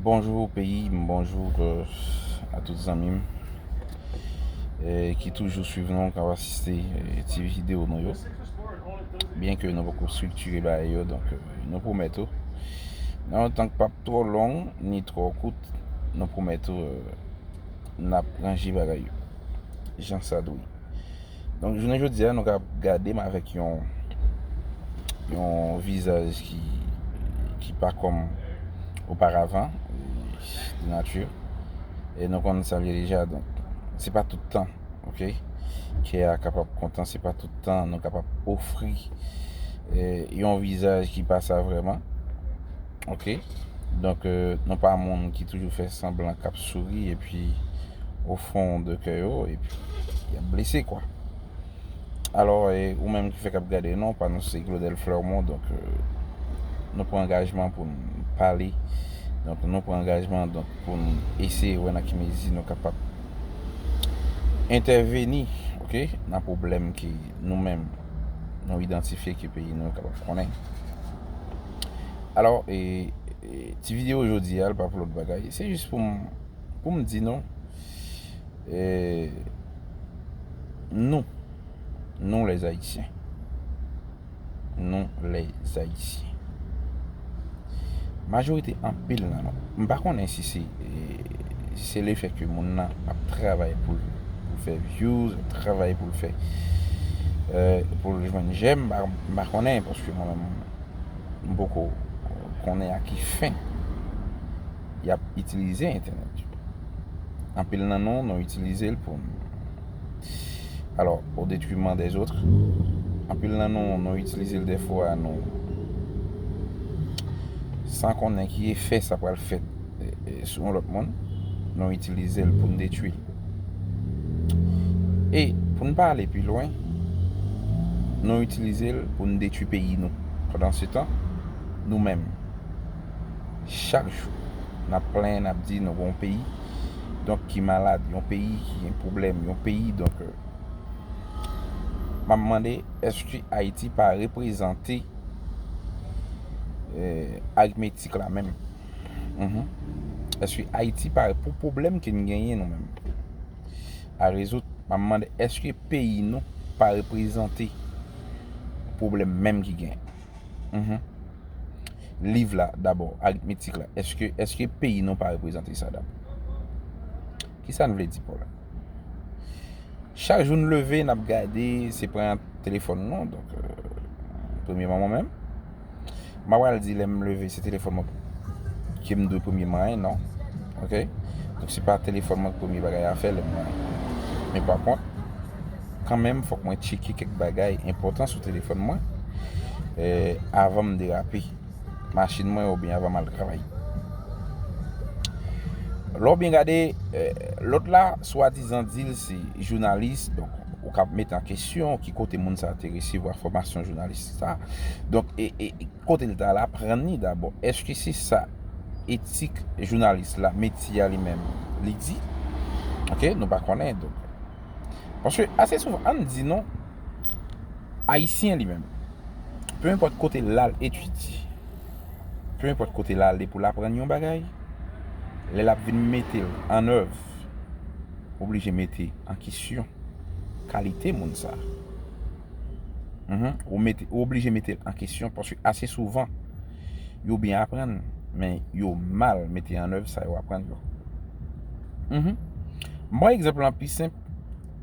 Bonjou peyi m, bonjou a tout zanmi m ki toujou swiv nou, kap asiste ti videyo nou yo Byen ke nou poko striktire bagay yo, donk nou pwomèt ou nan yon tan k pap twò long, ni twò kout nou pwomèt ou nap ranje bagay yo jan sa dwe Donk jounen jodi a nou ka gade m avèk yon yon vizaj ki ki pa kòm oparavan de nati e nou konn sa l ye deja donk se pa tout tan ok kè a kapab kontan se pa tout tan nou kapab ofri yon vizaj ki pa sa vrèman. Ok donk nou pa moun ki toujou fè sanblan kap souri epi o fon de kè yo epi yap blese kwa alò ou menm ki fèk ap gade nou pa nou se Claudel Flermont donk nou pran angajman pou n pale donk nou pran angajman donk pou n eseye wè nan ki mezi nou kapab entèveni ok nan pwoblèm ki nou menm nou idantifye ki peyi nou kapab konnen. Alò, e, e, ti videyo jodi a, l pa pou lòt bagay. Se jis pou m, pou m di nou, e, nou, nou lè zayisyen, nou lè zayisyen, majorite anpil nan nou, m pa konnen si se, e. se le fè ke moun nan ap travay pou l fè vyouz, ap travay pou l fè, pou l jwenn jèm, m pa konnen, paske mwen menm m poko konnen a ki fen y ap itilize entènèt yo. Anpil nan nou, nou itilize l pou n, alò, o detriman dèzotre, anpil nan nou, nou itilize l dèfwa nou san konnen ki efè sa pral fè. sou yon lòt moun, nou itilize l pou n detwi. E, pou n pa ale pi lwen, nou itilize l pou n detwi peyi nou. Pandansetan, nou menm, chak jou, n ap plenyen, n ap di nou gen yon peyi, donk ki malad, yon peyi ki gen pwoblèm, yon peyi donk. M ap mande, èske Ayiti pa reprezante aritmetik la menm? Eske ayiti pare pou pwoblèm ke n genyen nou menm a rezoud? M ap mande eske peyi nou pa reprezante pwoblèm menm ki gen? Liv la dabò, aritmetik la, eske peyi nou pa reprezante sa dabò? Ki sa n vle di pa w la? Chak jou n leve n ap gade se pran telefòn nou, donk premyeman mwen menm. M pa pral di lè m leve se telefòn mwen ke m dwe premye manyen non. Ok? Donk se pa telefòn mwen ki premye bagay afè lè m manyen. Men pa kont, kanmenm fòk mwen tcheke kèk bagay enpòtan sou telefòn mwen avan m derape machin mwen oubyen avan m al travay. Lè w byen gade, lòt la swadizan di l se jounalis donk ou ka ap mete an kesyon ki kote moun sa te resevwa fòmasyon jounalis. sa donk kote li ta al aprann li dabò eske se sa etik jounalis la metye a li menm li di ok nou pa konnen donk paske ase souvan an di nou ayisyen li menm pe enpòt kote l al etidye pe enpòt kote l ale pou l aprann yon bagay lè l ap vin mete l an èv oblije mete an kesyon kalite moun sa Ou oblije mete l an kesyon paske ase souvan yo byen aprann men yo mal mete an èv sa yo aprann yo. M pran egzanp lan pi senp,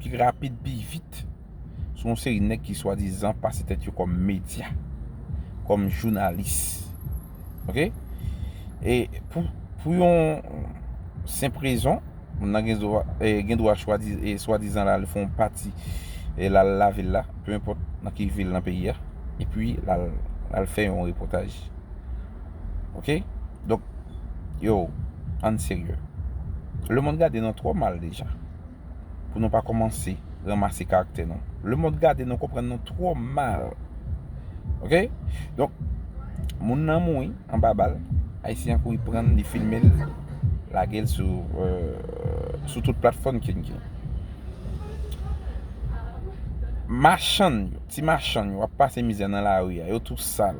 pi rapid, pi vit sou yon seri nèg ki swadizan pase tèt yo kòm medya, kòm jounalis. Ok? E pou yon senp rezon. Moun nan gen dwa swadizan la al fè yon pati la al lave l la, peu enpòt nan ki vil nan peyi a, epi la al fè yon repòtaj. Ok? Donk, yo, ann serye. Lemonn gade nou twò mal deja pou nou pa kòmanse ranmase karaktè nou. Lemonn gade nou konprann nou twò mal. Ok? Donk, moun nan mouri. anba bal, ayisyen an kouri pran l li filme l lage l sou tout platfòm ke n gen. Machann yo, ti machann yo ap pase mizè nan lari a, yo tou sal,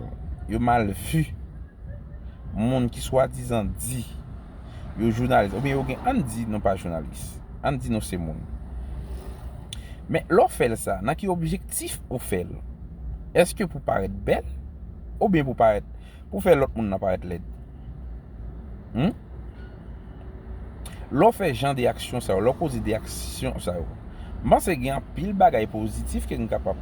yo mal vi, moun ki swadizan di. Yo jounalis oubyen yo gen ann di nou pa jounalis. Ann di nou se moun. Men lè w fè l sa, nan ki objektif ou fè l? Eske pou parèt bèl oubyen pou parèt pou fè lòt moun nan parèt lèd? Hum? Lè w fè jan de aksyon sa yo, lè w poze de aksyon sa yo, m panse gen anpil bagay pozitif ke n kapab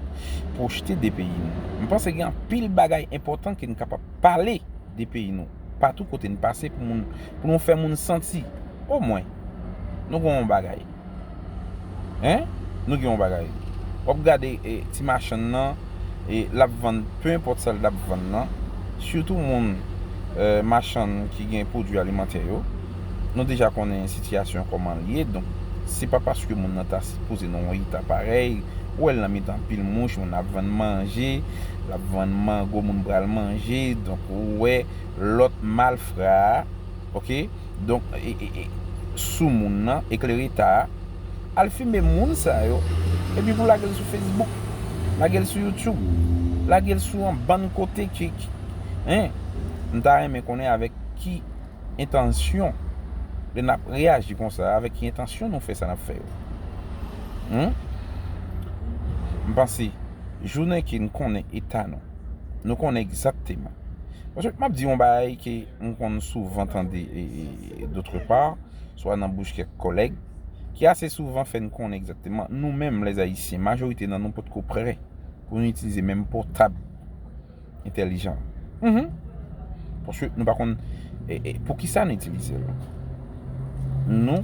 pwojte de peyi nou. M panse gen anpil bagay enpòtan ke n kapab pale. de peyi nou. Patou kote n pase pou moun, pou nou fè moun santi, o mwen, nou gen yon bagay. Hein? Nou gen yon bagay. W ap gade ti machann nan, l ap vann pe enpòt sa l ta vann nan, sitou moun machann ki gen pwodui alimantè yo. Nou deja konnen sitiyasyon kòman l ye, donk se pa paske moun nan ta sipoze nan yon eta parèy, ou wè l nan mitan pil mouch, moun ap vann manje, l ap vann mango moun pral manje, donk ou wè lòt malfra a, ok, donk sou moun nan, eklereta a, al filme moun sa yo, epi pou lage l sou Facebook, lage l sou YouTube, lage l sou yon bann kote ki, hein, m ta renmen konnen avèk ki. entansyon lè nap reyaji konsa avèk ki entansyon nou fè sa nap fè yo humm m panse jounen ke n konnen eta nou nou konnen egzakteman paske map di yon bagay ke m konn souvan tande dotre pa swa nan bouch kèk kòlèg ki ase souvan fè n konnen egzakteman nou menm lèzayisyen majorite nan nou potko prè pou nou itilize menm pòtab entèlijan. Mh. Paske nou pa konn pou ki sa nou itilize l. Nou,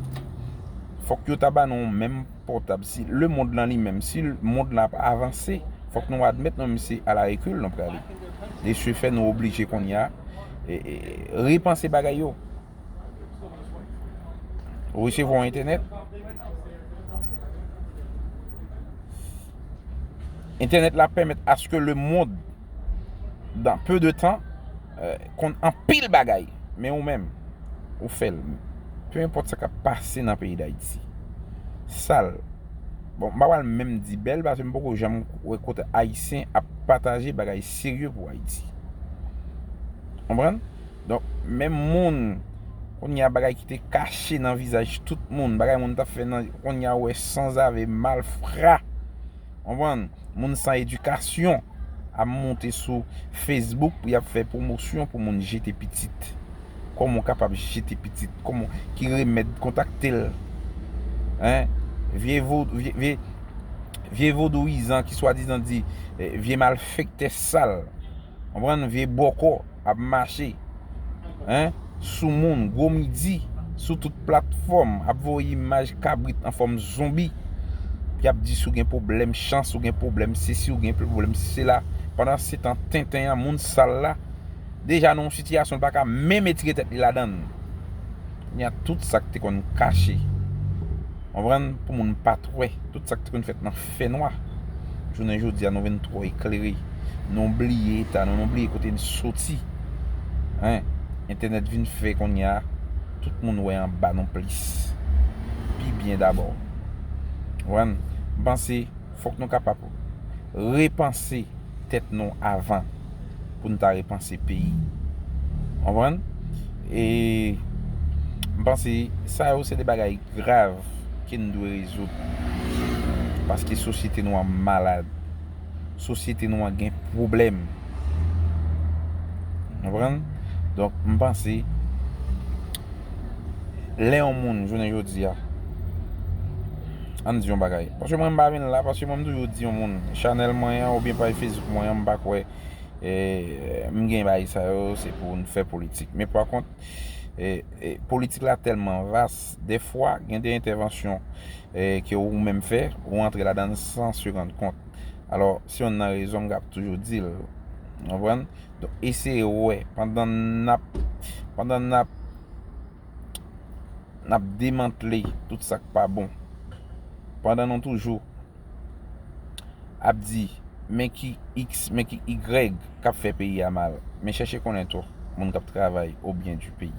fòk yo ta ba nou yon menm pòtab. Si le mond lan li menm, si mond lan ap avanse, fòk nou admèt nou menm se a la rekil nou prale. De se fè nou oblije kounye a repanse bagay yo. Ou resevwa yon entènèt? Entènèt la pèmèt aske le mond dan peu de tan konn anpil bagay. Men ou menm, ou fèl. Peu enpòt sa kap pase nan peyi d'Ayiti. Sal. Bon, m pa pral menm di bèl paske m poko janm wè kote Ayisyen ap pataje bagay serye pou Ayiti. Konprann? Donk menm moun kounye a bagay ki te kache nan vizaj tout moun, bagay moun tap fè nan kounye a wè sanzave malfra. Konprann? Moun san edikasyon ap moute sou Facebook pou yap fè pwomosyon pou moun jete pitit. Koman w kapab jete pitit? Koman ki remèd kontakte l? Hein? Vye vodou vye vye vodouyizan ki swadizan di vye malfèktè sal. Konprann vye bòkò ap mache hein sou moun gwo midi sou tout platfòm ap voye imaj kabrit an fòm zonbi yap di si w gen pwoblèm chans ou gen pwoblèm sesi ou gen pwoblèm sela pandan se tan tenten an moun sal la deja nan yon sitiyasyon li paka menm etire tèt li ladan l kounye a tout sak te konn kache konprann pou moun pat wè tout sak te konn fèt nan. fè nwa. Jounen jodi a nou vin twò eklere. Nou bliye eta nou, nou bliye kote n soti. Hein. Entènèt vin fè kounye a tout moun wè anba nou plis. Pi byen dabò. Konprann? M panse fòk nou kapab repanse tèt nou avan pou n ta repanse peyi. Konprann? E m panse sa yo se de bagay. grav ke n dwe rezoud. Paske sosyete nou an malad. Sosyete nou an gen pwoblèm. Ou konprann? Donk, m panse, lè yon moun jounen jodi a, an n di yon bagay, paske mwen m pa vin la, paske mwen m toujou di yon moun, chanèl mwen an oubyen paj Facebook mwen an m pa kwè m gen bagay sa yo se pou n fè politik. Men pa kont, Politik la tèlman vas, dèfwa gen de entèvansyon ke ou menm fè, ou antre ladan l san se rann kont. Alò, se yonn nan rezon m ap toujou di l. Ou konprann? Donk, eseye wè, pandan n ap, pandan n ap, n ap demantle tout sa k pa bon, pandan nou toujou. ap di men ki x men ki y kap fè peyi a mal men chèche konnen tou moun kap travay o byen di peyi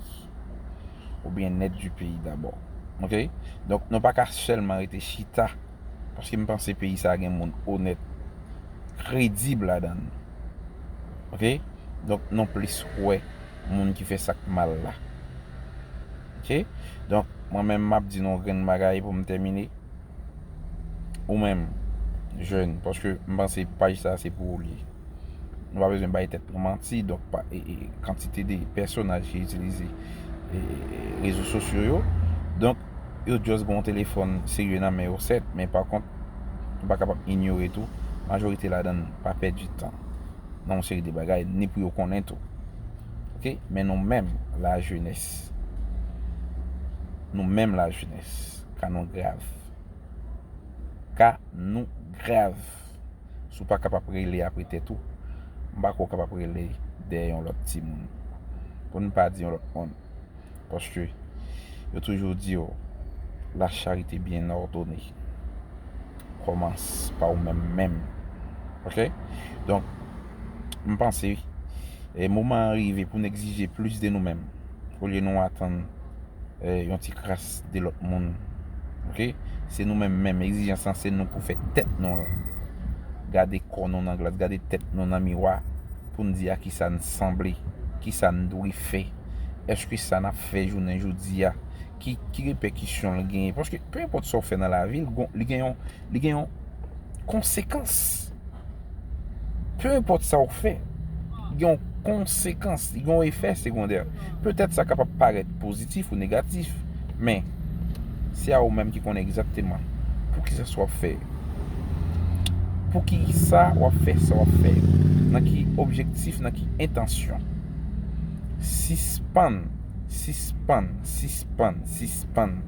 o byen nèt di peyi dabò ok donk nou paka sèlman rete chita paske m panse peyi sa gen moun onèt kredib ladan l ok donk nou plis wè moun ki fè sak mal la ok donk mwen menm map di nou yon grenn bagay pou m tèmine. ou menm jèn paske m panse paj sa se pou ou li ye nou pa bezwen bay tèt nou manti donk pa kantite de pèsonaj ki itilize rezo sosyo yo donk yo just gen yon telefòn serye nan men yo sèt men pa kont nou pa kapab inyore tou majorite ladan pa pèdi tan nan yon seri de bagay ni pou yo konnen tou ok men nou menm la jenès nou menm la jenès. Ka nou grav. Ka nou grav. Si w pa kab ap rele apre tèt ou, m pa kwè w kab ap rele dèyè yon lòt timoun. Pou n pa di yon lòt moun. Paske, yo toujou di yo, La charite byen òdone kòmans pa ou menm menm. Ok? Donk, m panse, moman an rive pou n egzije plis de nou menm, olye nou atann. yon ti kras de lòt moun. Ok, se nou menm menm, egzijans lan se nou pou fè tèt nou an. Gade kò nou nan glas, gade tèt nou nan miwa pou n di a ki sa n sanble, ki sa n dwe fè. Èske sa n ap fè jounen jodi a, ki repèkisyon l genyen? Paske, pe enpòt sa w fè nan lavi, li gen yon. li gen yon konsekans. Peu enpòt sa ou fè, li gen yon konsekans, li gen yon efè segondè. Petèt sa kapab parèt pozitif ou negatif, men, se a ou menm ki konnen egzakteman pou ki sa sa w ap fè. Pou ki sa w ap fè sa w ap fè. Nan ki objektif, nan ki entansyon. Sispann, sispann, sispann, sispann,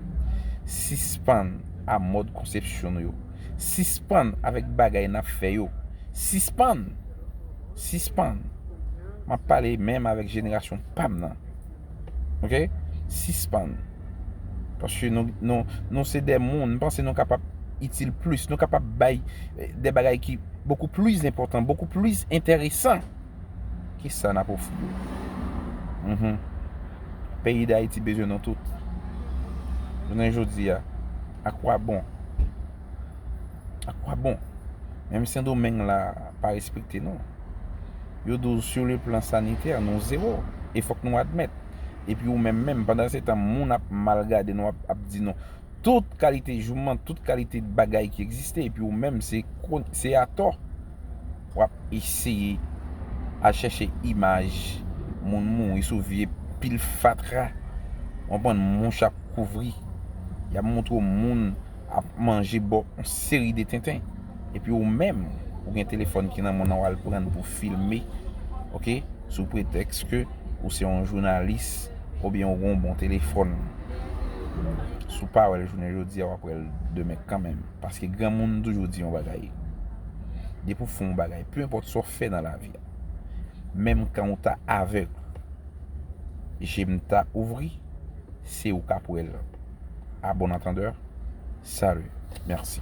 sispann. a mòd konsepsyon nou yo. Sispann avèk bagay n ap fè yo. Sispann! Sispann! M ap pale menm avèk jenerasyon pa m nan. Ok? Sispann! Paske nou se de moun, m panse nou kapab itil plis, nou kapab bay de bagay ki bokou plis enpòtan, bokou plis enteresan. Ki sa nap ofri yo? Uhmm. Peyi Dayiti bezwen nou tout. Jounen jodi a, a kwa bon? A kwa bon? Menm Sendomeng la pa respekte nou. Yo di w sou le plan sanitè nou zewo. E fòk nou admèt. E pi ou menm menm, pandan se tan moun ap mal gade nou, ap di nou tout kalite jouman, tout kalite bagay ki egziste. E pi ou menm se atò. Wap eseye al chèche imaj moun mouri sou vye pil fatra ou konprann mouch ap kouvri yap moutre w moun ap manje bò on seri de tenten epi ou menm ou gen telefòn ki nan moun nan wal prann pou filme ok sou pretèks ke ou se on jounalis oubyen ou gon bon telefòn si w pa wèl jounen jodi a wap wèl demen kanmenm. Paske granmoun toujou di yon bagay. Depi ou fè yon bagay, peu enpòt sa ou fè nan lavi a, menm kan ou ta avèg, je m ta ouvri, se ou k ap wè l. A bon antandè, salut, mèsi.